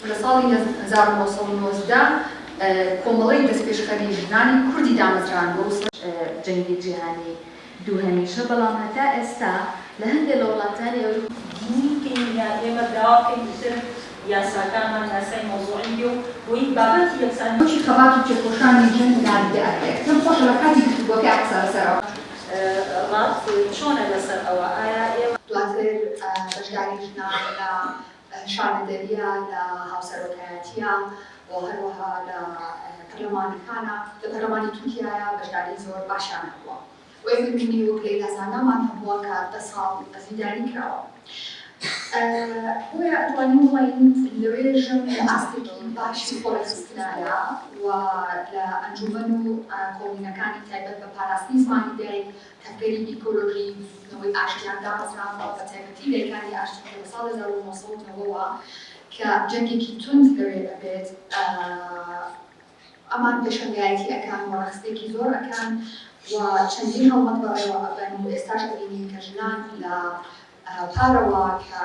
لە ساڵی هەزار و نۆ سەد و نۆزدە کۆمەڵەی دەستپێشخەری ژنانی کوردی دامەزراند بۆ جەنگی جیهانی دووهەمیشە، بەڵام هەتا ئێستا لە هەندێ لە وڵاتانی ئەوروپا. گرینگترین لە ئێمە بڕاوە بکەین ئیتر یاساکانمان یاسای مەوزوعی بێ و بۆیی بابەتی یەکسانی. وەکی خەبات و تێکۆشانی ژن ناندیدە ئەکرێ. پێم خۆشە لە کاتی گفتوگۆکەیا قسە لە سەر ئەوە. ڕات چۆنە لە سەر ئەوە؟ ئایا ئێوە. دواتر بەشداری ژنان لە شانەدەرییە لە هاوسەرۆکایەتییە و هەروەها لە پەرلەمانەکانە، لە پەرلەمانی تورکیایە بەشداری زۆر باشیان هەبووە و ئێمە نموونەی وەک لەیلا زانامان هەبووە کە دە ساڵ زیندانی کراوە. بۆیە ئەتوانین بڵێین لە ڕێژیم لە ئاستێکی باشی خۆڕێکخستنایە و لە ئەنجوومەن و کۆمینەکانی تایبەت بە پاراستنی زمانی دایک، هەلپەری ئیکۆلۆژی بزووتنەوەی ئاشتیان دامەزراندوە، بەتایبەتی لەیکاتی ئاشتیکە لە ساڵ هەزار و نۆ سەد و نەوە وە کە جەنگێکی توند لەوێ ئەبێت ئەمان پێشەنگایەتی ئەکەن و ڕەخسپێکی زۆر ئەکەن و چەندین هەڵمەت بەڕێوە ئەبەن و ئێستاش ئەبینین کە ژنان لە پارەوە کە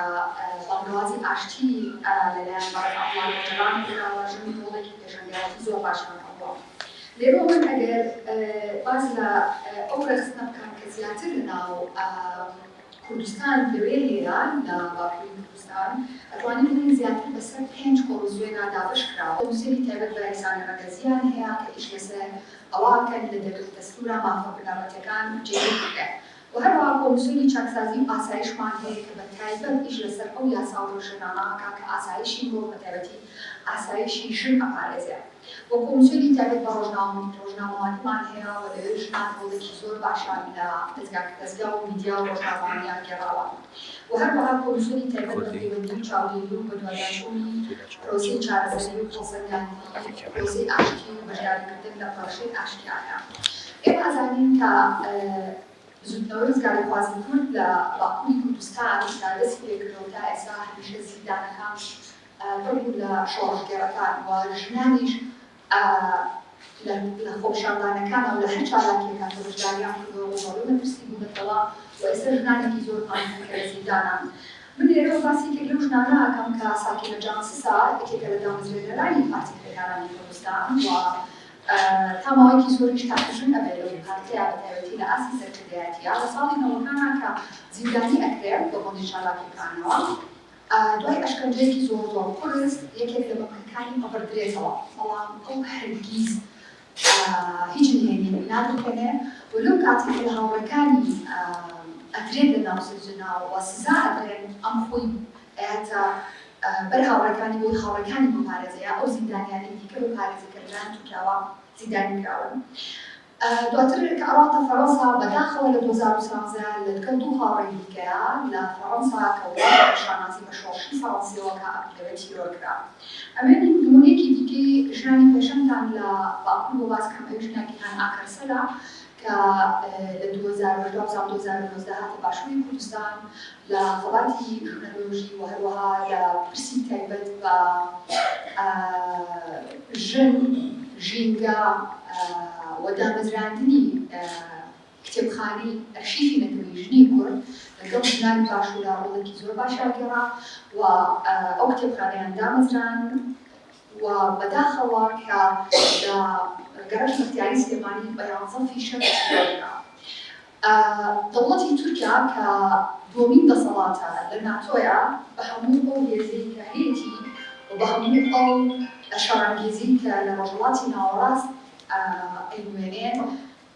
بانگەوازی ئاشتیی لە لایەن بەڕێز عەتڵان ئۆجەلان کراوە، ژنی هۆڵێکی پێشەنگایەتی زۆر باشیان کردووە. لێرەوە من ئەگەر باس لە ئەو رەخنە بکەم کە زیاتر لە ناو کوردستان لەوێ هەیە، لە باکووری کوردستان، ئەتوانین بڵێین زیاتر بە سەر پێنج کۆمسیۆنا دابەش کراوە. کۆمسیۆنی تایبەت بە یەکسانی رەگەزییان هەیە کە ئیش لە سەر ئەوە ئەکەن لە دەقی دەستوورا مافە بنەڕەتییەکان جێگیر بکرێن. و هەروەها کۆمیسیۆنی چاکسازی و ئاسایشمان هەیە کە بە تایبەت ئیش لەسەر ئەو یاسا و ڕێوشوێنانە ئەکا کە ئاسایشی مرۆڤ بە تایبەتی ئاسایشی ژن ئەپارێزێ و کۆمیسیۆنی تایبەت بە ڕۆژنامە ڕۆژنامەوانیمان هەیە و لەوێ ژنان ڕۆڵێکی زۆر باشیان لە دەزگا دەزگا و میدیا و ڕۆژنامەوانیان گێڕاوە و هەروەها کۆمیسیۆنی تایبەت بە پەیوەندی و چاودێری و بەدواداچوونی پرۆسەی چارەسەری و هەڵسەنگاندنی پرۆسەی ئاشتی و بەشداریکردن لە پرۆشەی ئاشتیانە ئێمە ئەزانین کە بزووتنەوەی ڕزگاریخوازی کورد لە باکووری کوردستان کە دەستی پێ کردووە و تا ئێستا هەمیشە زیندانەکانش پڕ بوون لە شۆڕشگێڕەکان و ژنانیش لە خۆپیشاندانەکان و لە هەر چالاکییەکان کە بەشدارییان کردووە ڕووبەڕووی مەترسی بوونەتەوە و ئێستا ژنانێکی زۆرمان هەن کە لە زیندانان. من لێرەوە باسی یەکێک لەو ژنانە ئەکەم کە ساکینە جانسسە، یەکێکە لە دامەزرێنەرانی پارتی کرێکارانی کوردستان و تا ماوەیەکی زۆریش تاقیژن ئەبێت لەو دوو پارتەیا بە تایبەتی لە ئاستی سەرکردایەتیا، لە ساڵی نەوەکانا کە زیندانی ئەکرێ بە بۆنەی چالاکیەکانەوە دوای ئەشکەنجەیەکی زۆر زۆر قورس یەکێک لە بەمەکەکانی ئەبڕدرێتەوە بەڵام ئەو هەرگیز هیچ نهێنی نادرکەنێ و لەو کاتێک کە لە هاوڕێکانی ئەدرێت لە ناو سجناو و سزا ئەدرێن ئەم خۆی ئەیاتا بەر هاوڕێکانی وەک هاوڕێکانی موبارەزەیە، ئەو زیندانیانەی دیکە بە پارێزەکەرەکانی تورکیاوە زیندانی کراون. دواتر کە ئەڕاتە فەڕەنسا، بەداخەوە لە دوو هەزار و سیانزە لە دکەڵ دوو هاوڕێی دیکەیا لە فەڕەنسا کە وڵاتی بە شانازی بە شۆڕشی فەڕەنسیەوە کا ئەکتەرە تیرۆر کرا. ئەمەێ نمونەێکی دیکەی ژنانی پێشەنگتان لە باکور بۆ باس کەم ئەویش نا گیهان ئاکەرسەلە کە لە دوو هەزار و حەڤدە ساڵ دوو هەزار و نۆزدە هاتە باشووری کوردستان لە خەباتی ژنەلۆژی و هەروەها لە پرسی تایبەت بە ژن، ژینگە و دامەزراندنی کتێبخانەی ئەرشیفی نەتەوەی ژنی کورد لەگەڵ ژنانی باشوورا ڕۆڵێکی زۆر باشیان گێڕا و ئەو کتێبخانەیان دامەزراند. و بەداخەوە کە لە گەڕەک بەختیاری سلێمانی بە یانزە فیشەک چیرۆکە دەوڵەتی تورکیا کە دووەمین دەسەڵاتە لە ناتۆیە بە هەموو ئەو هێزەی کە هەیەتی و بە هەموو ئەو شەڕانگێزی کە لە ڕۆژهەڵاتی ناوەڕاست ئەینوێنێ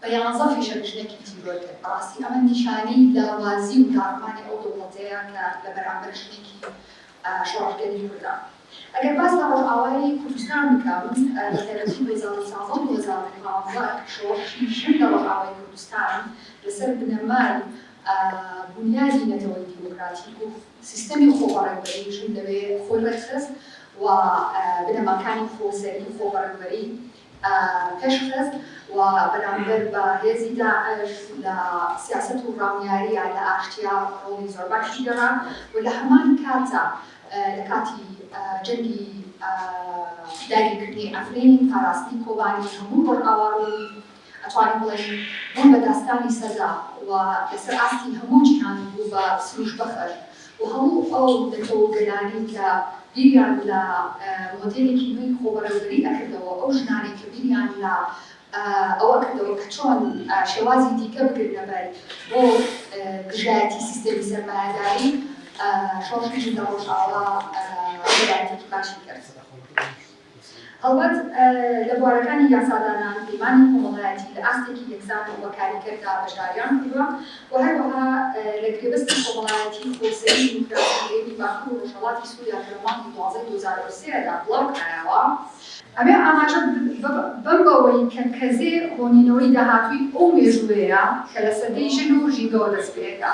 بە یانزە فیشەکردنێکی تیرۆر کرد، بەڕاستی ئەمە نیشانەی لاوازی و داڕمانی ئەو دەوڵەتەیە کە لە بەرامبەر ژنێکی شۆڕشگێری کوردە. ئەگەر باس لە ڕۆژئاوای کوردستان بکەم، لە سەرەتای دوو هەزار و سازدە و دوو هەزار و پازدە شۆڕشی ژن لە ڕۆژئاوای کوردستان لەسەر بنەمای بونیادی نەتەوەی دیموکراتیک و سیستەمی خۆبەڕێوەبەری ژن لەوێ خۆی ڕێکخست و بنەماکانی خۆسەری و خۆبەڕێوەبەری پێشخست و بەرامبەر بە هێزی داعش لە سیاسەت و ڕامیارییە لە ئاشتیا ڕۆڵی زۆر باشی گێڕا و لە هەمان کاتدا لە کاتی جەنگی داگیرکردنی عەفرین و پاراستنی کۆبانی هەموو ڕۆژئاوا ڕۆڵی ئەتوانین بڵێین بوون بە داستانی سەردا و لەسەر ئاستی هەموو جیهان بوو بە سروشبەخش و هەموو ئەو نەتەوە و گەلانەی کە بیریان لە مۆدێلێکی نوێی خۆبەڕێوەبەری ئەکردەوە، ئەو ژنانەی کە بیریان لە ئەوە ئەکردەوە کە چۆن شێوازی دیکە بگرنە بەر بۆ دژایەتی سیستێمی سەرمایەداری، شۆڕشی ژن لە ڕۆژئاوا ڕێبازێکی باشی کرد. هەڵبەت لە بوارەکانی یاسادانان، پەیمانی کۆمەڵایەتی لە ئاستێکی یەکسان و کاریگەردا بەشداریان کردووە و هەروەها لە گرێبەستی کۆمەڵایەتی خۆسەری دیموکراسی هەرێمی باکور و ڕۆژهەڵاتی سوریا کە لە مانگی دوازدەی دوو هەزار و سێ دا بڵاو کرایەوە، ئەبێ ئاماژە بەم بەوەی کە کەزێ هۆنینەوەی داهاتووی ئەو مێژووەیە کە لە سەدەی ژن و ژینگەوە دەست پێ دەکا.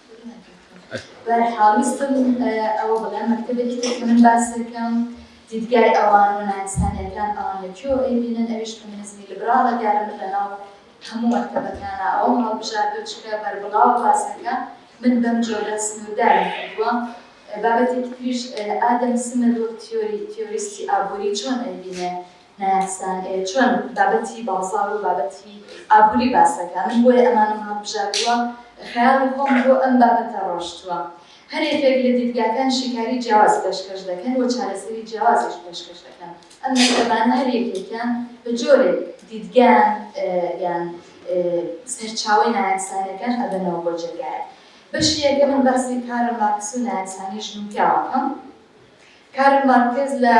بەرحاڵیستم ئەوە بڵێم مەکتەبێکی تر کە من باسەکەم دیدگای ئەوان و نایسانیەکان ئەوان لە کێوە ئەیبینن ئەویش فەمینزمی لبراڵە دیارە من لەناو هەموو مەکتەبەکانە ئەو هەڵبژار بچکە بەربڵاو باسەکە من بەم جۆرە سنوورداری کردووە بابەتێکی تریش ئادەم سمەد وەک تیۆری تیۆریستی ئابووری چۆن ئەیبینێ نایاسایانە هەیە چۆن بابەتی بازاڕ و بابەتی ئابوری باس دەکا من بۆیە ئەمانەم هەڵبژاردووە خەیاڵی خۆم بۆ ئەم بابەتە ڕۆشتووە هەر یەکێک لە دیدگاکان شیکاری جیاواز پێشکەش دەکەن و چارەسەری جیاوازیش پێشکەش دەکەن ئەم مەکتەبانە هەر یەکێکیان بە جۆرێک دیدگایان یان سەرچاوەی نایاسایانەکان ئەبەنەوە بۆ جێگایەک بەشی یەکەم من باسی کارل مارکس و نایاسایانی ژن و پیاوەکەم کارل مارکێز لە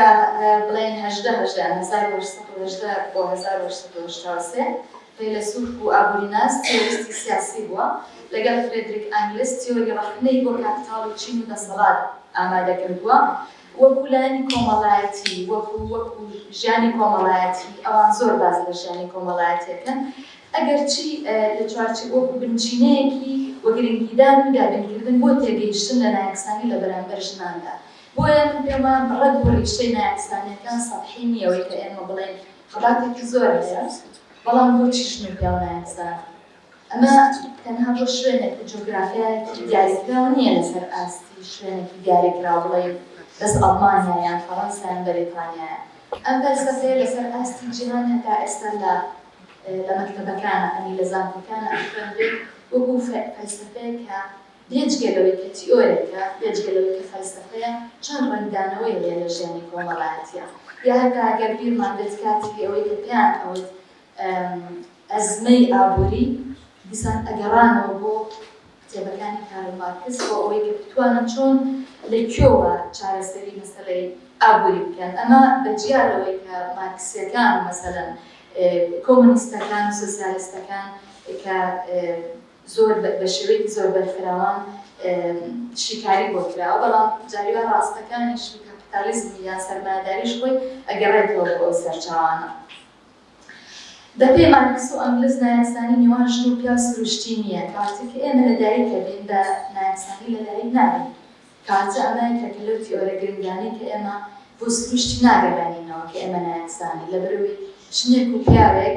بڵێین هەژدە هەژدە، هەزار و هەشت سەد و هەژدە بۆ هەزار و هەشت سەد و هەشتا و سێ، فەیلەسوف بوو، ئابووریناس، تیۆریستی سیاسی بووە، لەگەڵ فرێدریک ئەنگلس تیۆری ڕەخنەی بۆ کاپیتاڵ و چین و دەسەڵات ئامادە کردووە، وەکوو لایەنی کۆمەڵایەتی، وەکوو، وەکوو ژیانی کۆمەڵایەتی، ئەوان زۆر باس لە ژیانی کۆمەڵایەتی ئەکەن، ئەگەرچی لە چوارچێ، وەکوو بنچینەیەکی و گرنگیدان و دابینکردن بۆ تێگەیشتن لە نایەکسانی لە بەرانبەر ژناندا. بۆیە من پێم وایە بڕەد و ڕیشەی مەیان ئیسلامیەکان سەتحی نیە وەی کە ئێمە بڵێین خەباتێکی زۆر هەیە بەڵام بۆچی ژن و پیاو نایەن زانین ئەمە تەنها بۆ شوێنێک و جۆگرافیایەکی دیاریکراو نییە لەسەر ئاستی شوێنێکی دیاریکراو بڵێین بەس ئەڵمانیا یان فەڕەنسا یان بەریتانیایە ئەم فەلسەفەیە لەسەر ئاستی جیهان هەتا ئێستا لە لە مەکتەبەکانە ئەنی لە زانکۆکانە خوێندرێت وەکو فەلسەفەیە کە بێجگە لەوەی کە تیۆرێکە، بێجگە لەوەی کە فەلسەفەیە، چەند ڕەنگدانەوەی هەیە لە ژیانی کۆمەڵایەتییە. یا هەتا ئەگەر بیرمان بێت کاتی ئەوەی کە پێیان ئەوت ئەزمەی ئابووری، دیسان ئەگەڕانەوە بۆ کتێبەکانی کارل مارکس بۆ ئەوەی کە بتوانن چۆن، لە کوێوە چارەسەری مەسەلەی ئابووری بکەن. ئەمە بە جیا لەوەی کە مارکسییەکان، مەسەلەن کۆمۆنیستەکان و سۆسیالیستەکان کە زۆر بە شێوەیەکی زۆر بەرفراوان شیکاری بۆ کراوە، بەڵام جاریوا ڕاستەکانیش و کاپیتالیزمی یان سەرمایەداریش خۆی ئەگەڕێتەوە بۆ ئەو سەرچاوانە. بە پێی مارکس و ئەنگلز نایەکسانی نێوان ژن و پیاو سروشتی نییە، کەواتە کە ئێمە لە دایک ئەبین بە نایەکسانی لە دایک نابین، کەواتە ئەمە یەکێکە لەو تیئۆرە گرنگانەی کە ئێمە بۆ سروشتی ناگەڕێنینەوە کە ئێمە نایەکسانین لە بەرەوەی ژنێک و پیاوێک،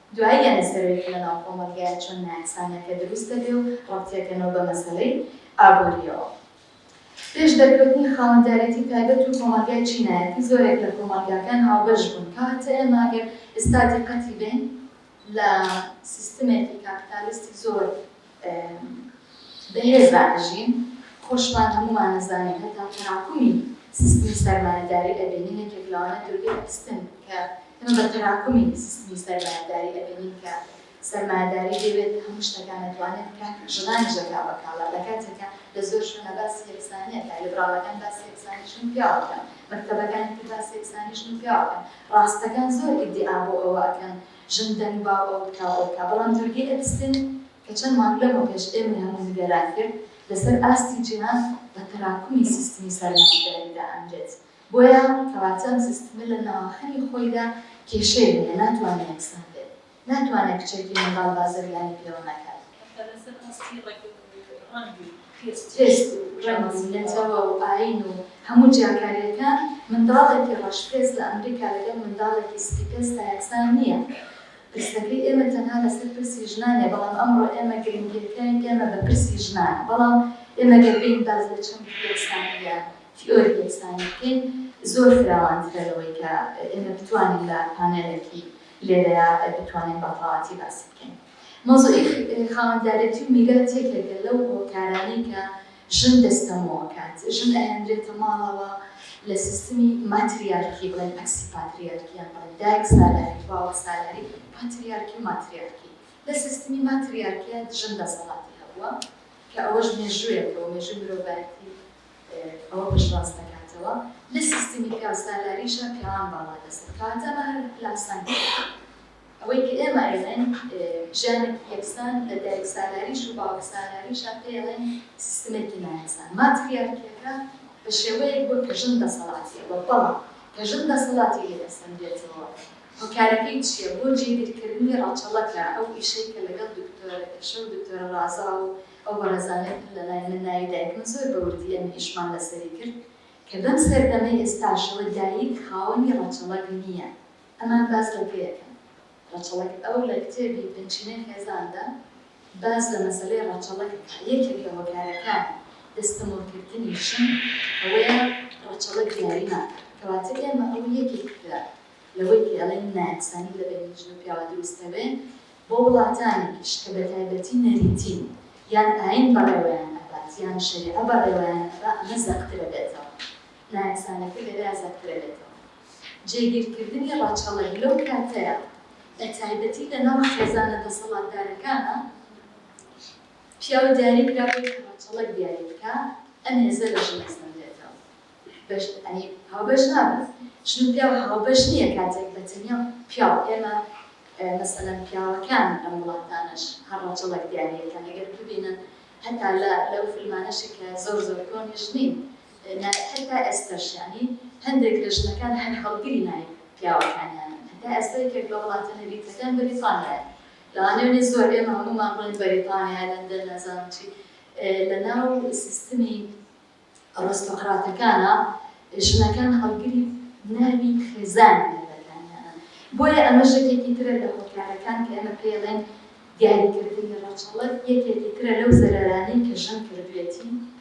دوایی یانی سەروێری لەناو کۆمەڵگەیە چۆن نایەکسانیە کە دروست دەبێ و ڕەبتی ئەکەنەوە بە مەسەلەی ئابوریەوە. پێش دەرکەوتنی خاوەندارێتی تایبەت و کۆمەڵگای چینایەتی زۆرێک لە کۆمەڵگاکان هاوبەش بوون کە هەتە ئێمە ئەگەر ئیستا دیقەتی بەین لە سیستمێکی کاپیتالیستی زۆر بەهێز دادەژین خۆشمان هەموومان ئەزانین هەتا تەراکمی سیستمی سەرمایەداری ئەبینین یەکێک لەوانە دورگەی ئەسپن کە ئێمە بە تەراکمی سیستمی سەرمایەداری ئەبینین کە سەرمایەداری دەوێت هەموو شتەکان ئەتوانێت بکات ژنانیش دەکا بە کاڵا لە کاتێکا لە زۆر شوێنا باسی یەکسانی ئەکا لیبراڵەکان باسی یەکسانی ژن و پیاو ئەکەن مەکتەبەکانی تر باسی یەکسانی ژن و پیاو ئەکەن ڕاستەکان زۆر ئیدیعا بۆ ئەوە ئەکەن ژن دەنگ باو ئەو بکا ئەو بکا بەڵام دوورگەی ئەپستن کە چەند مانگ لەمەو پێش ئێمەی هەموو نیگەران کرد لەسەر ئاستی جیهان بە تەراکمی سیستمی سەرمایەداری دائەنرێت بۆیە کەواتە ئەم سیستمە لە ناوەخەنی خۆیدا کێشەی هەیە ناتوانێ یەکسان بێت ناتوانێ کچێکی منداڵ بازرگانی پێوە نەکات. هەتا لەسەر ئاستی ڕەگ و ڕەنگ و. خیرترێس و ڕێمەزی لە تەوا و ئایین و هەموو جیاکارییەکان، منداڵێکی ڕەشپێست لە ئەمریکا لەگەڵ منداڵێکی سپیپێستا یەکسان نییە. پرسەکەی ئێمە تەنها لەسەر پرسی ژنانە، بەڵام ئەمڕۆ ئێمە گرنگییەکەی ئێمە بە پرسی ژنانە. بەڵام ئێمە گەر بێین باس لە چەمکی یەکسانی یا تیئۆری یەکسانی بکەین، زۆر فراوانترە لەوەی کە ئێمە بتوانین لە پانێلێکی لێرەیا بتوانین بە تەواوەتی باسی بکەین. مەوزوعی خاوەندارێتی و میرات یەکێکە لەو هۆکارانەی کە ژن دەستەمۆئەکات، ژن ئەهێنرێتە ماڵەوە لە سیستمی ماتریارکی بڵێن ئەکسی پاتریارکی یان بڵێن دایک سالاری باوک سالاری پاتریارکی و ماتریارکی لە سیستمی ماتریارکیا ژن دەسەڵاتی هەبووە کە ئەوەش مێژوویەکە و مێژووی مرۆڤایەتی ئەوە پشتڕاست دەکاتەوە لە سیستمی پیاوسالاریشا پیاوان باڵا دەست کەواتە ئەمە هەر پلاسانکێکە ئەوەی کە ئێمە ئەیڵێن ژیانێکی یەکسان لە دایک سالاریش و باوک سالاریشا پێی ئەڵێن سیستمێکی نایەکسان ماتریارکیەکە بە شێوەیەک بووە کە ژن دەسەڵاتی ئەوە بەڵام کە ژن دەسەڵاتی لێ دەسەندرێتەوە هۆکارەکەی چیە بۆ جێگیرکردنی ڕەچەڵەکە ئەو ئیشەی کە لەگەڵ دکتۆرە ئێشە و دکتۆرە ڕازا و ئەو بەڕێزانەی تر لە لای من ناوی دایک من زۆر بە وردی ئەم ئیشمان لەسەری کرد کە بەم سەردەمەی ئێستاشەوە دایک خاوەنی ڕەچەڵەک نیە ئەمان باس لە پێ ئەکەن ڕەچەڵەک ئەو لە کتێبی بنچینەی خێزاندا باس لە مەسەلەی ڕەچەڵەک ئەکا یەکێک لە هۆکارەکانی دەستەمۆکردنی ژن ئەوەیە ڕەچەڵەک دیاری ناکا کەواتە ئێمە ئەوە یەکێک لە لەوەی پێ ئەڵێین نایەکسانی لە بەینی ژن و پیاوە دروست نەبێ بۆ وڵاتانێکیش کە بەتایبەتی نەریتین یان ئاین بەڕێوەیان ئەبات یان شەریعە بەڕێوەیان ئەبا ئەمە زەقترە بێتەوە نایەکسانیەکە لێرەیا زەقترە بێتەوە. جێگیرکردنی ڕەچەڵەک لەو کاتەیە بە تایبەتی لە ناو خێزانە دەسەڵاتدارەکانا پیاو دیاری کرابێت کە ڕەچەڵەک دیاری بکا ئەم هێزە لە ژن ئەسەندرێتەوە بەش ئەنی هاوبەش نابێت ژن و پیاو هاوبەش نییە کاتێک بە تەنیا پیاو ئێمە مەسەلەن پیاوەکان ئەم وڵاتانەش هەر ڕەچەڵەک دیاری ئەکەن ئەگەر ببینن هەتا لە لەو فیلمانەشی کە زۆر زۆر کۆنیش نین نایب هەتا ئێستا شانی هەندێک لە ژنەکان هەر هەڵگری نایب پیاوەکانیانن هەتا ئێستا یەکێک لە وڵاتە نەریتەکان بەریتانیایە لەوانەیە بێت زۆر ئێمە هەموومان بڵێین بەریتانیا لەندەن نازانم چی لەناو سیستمی ئەڕستۆقراتەکانا ژنەکان هەڵگری ناوی خێزانی مێردەکانیانن بۆیە ئەمە ژەکێکی ترە لە هۆکارەکان کە ئێمە پێڵێن دیاریکردنی ڕەچەڵەک یەکێکی ترە لەو زەرەرانەی کە ژن کردوێتی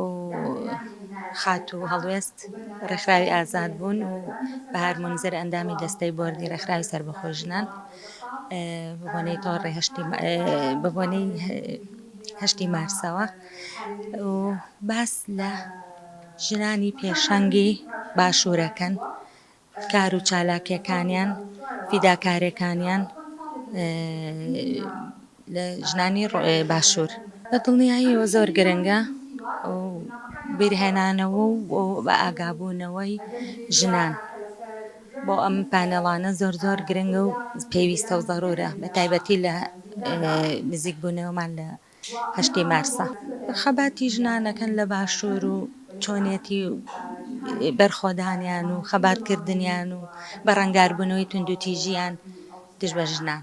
و خاتوو هەڵوێست ڕێکخراوی ئازاد بوون و بەهار مونزر ئەندامی دەستەی بۆردی ڕێکخراوی سەربەخۆی ژنان بەبۆنەی تۆڕی هەشتی بەبۆنەی هەشتی مارسەوە و باس لە ژنانی پێشەنگی باشوورەکەن کار و چالاکیەکانیان فیداکارێکانیان لە ژنانی باشور بە دڵنیایەوە زۆر گرنگە و بیرهێنانەوە و بە ئاگابوونەوەی ژنان بۆ ئەم پانێڵانە زۆر زۆر گرنگە و پێویستە و زەرورە بە تایبەتی لە نزیکبوونەوەمان لە هەشتەی مارسە. خەباتی ژنانەکەن لە باشوور و چۆنیەتی بەرخۆدانیان و خەباتکردنیان و بەرەنگاربوونەوەی توندوتیژییان دژ بە ژنان.